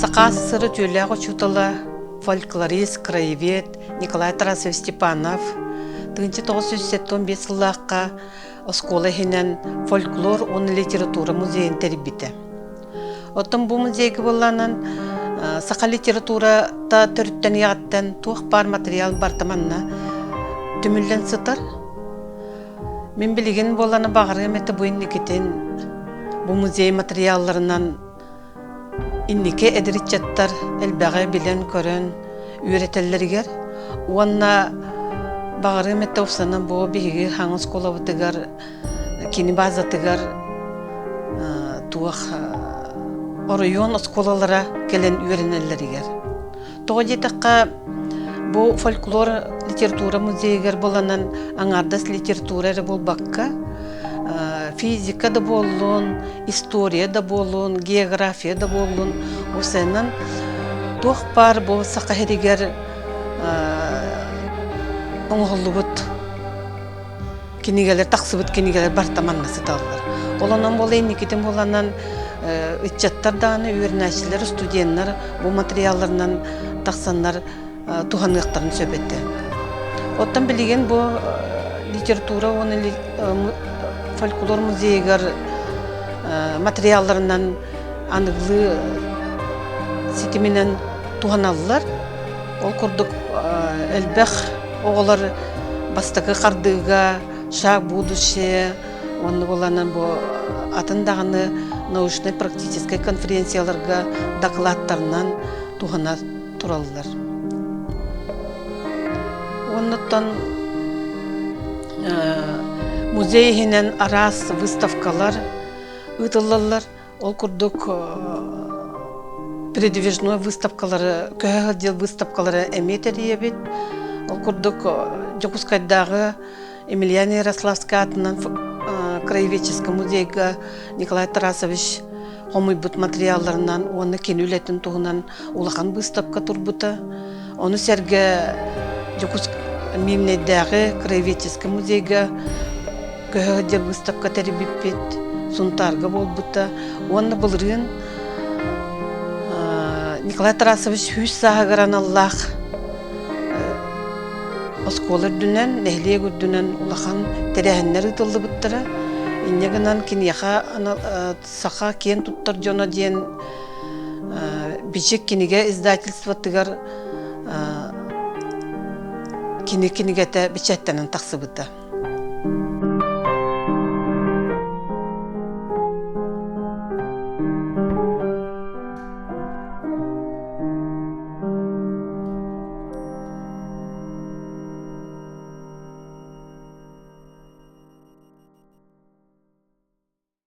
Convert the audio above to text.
Сакаас сыра түүлээх учуутала, фольклорист, краевед Николай Тарасович Степанов тыынча тоҕус жүз сэттэ биэс сыллаахха оскуола иһинэн фольклор уонна литература музейын тэрийбитэ. Оттон бу музейга буолланан саха литературата төрүттэн ийэҕиттэн туох баар матырыйаал барыта манна түмүллэн сытар. Мин билигин буолланы баҕарыам это бу инникитин бу музей материалларынан инники эдириччаттар элбэҕи билэн-көрөн үөрэтэллэригэр уонна баҕарыам это ufсаны бу биһиги хаҥ оскуолабытыгар кини базатыгар туох оройуон оскуолалара кэлэн үөрэнэллэригэр Тоҕо диэтэххэ, бу фольклор литература музейыгар буланан аҥаардас литература эрэ буолбакка, физика да буоллун, история да буоллун, география да буоллун, осеннан туох баар бу Саха иһигэр оҥоһуллубут кинигэлэр тахсыбыт кинигэлэр барта манна сыталлар. Ол онон буола инникитин буланан ыччаттар дааны үөрэнээччилэр, студеннар бу материалларынан тахсаннар туһаныахтарын сөп этэ. Оттон билигин бу литература уонна фольклор музейыгар материалларынан аныгылыы ситиминэн туһаналлар. Ол курдук элбэх оҕолор бастакы хардыыга «Шаг в будущее» уонна буоланан бу атын даҕаны научнай-практическай конференцияларга дакылааттарынан туһана тураллар. Оннуттан музей иһинэн араас выставкалар ыытыллаллар. Ол курдук передвижной выставкалары, көһө сылдьар выставкалары эмиэ тэрийэбит. Ол курдук Дьокуускайдааҕы Емельян Ярославский аатынан краеведческай музейга Николай Тарасович хомуйбут материалларынан уонна кини үлэтин туһунан улахан быыстапка турбута. Ону сэргэ Миимнэйдээҕи краеведческай музейга көһө сылдьар быыстапка тэрийбиппит, Сунтаарга буолбута уонна былырыын Николай Тарасович сүүс сааһыгар аналлаах оскуола үрдүнэн, нэһилиэк үрдүнэн улахан тэрээһиннэр ыытыллыбыттара. Инньэ гынан киниэхэ Саха киэн туттар дьоно диэн Бичик кинигэ издательствотыгар кини кинигэтэ бэчээттэнэн тахсыбыта.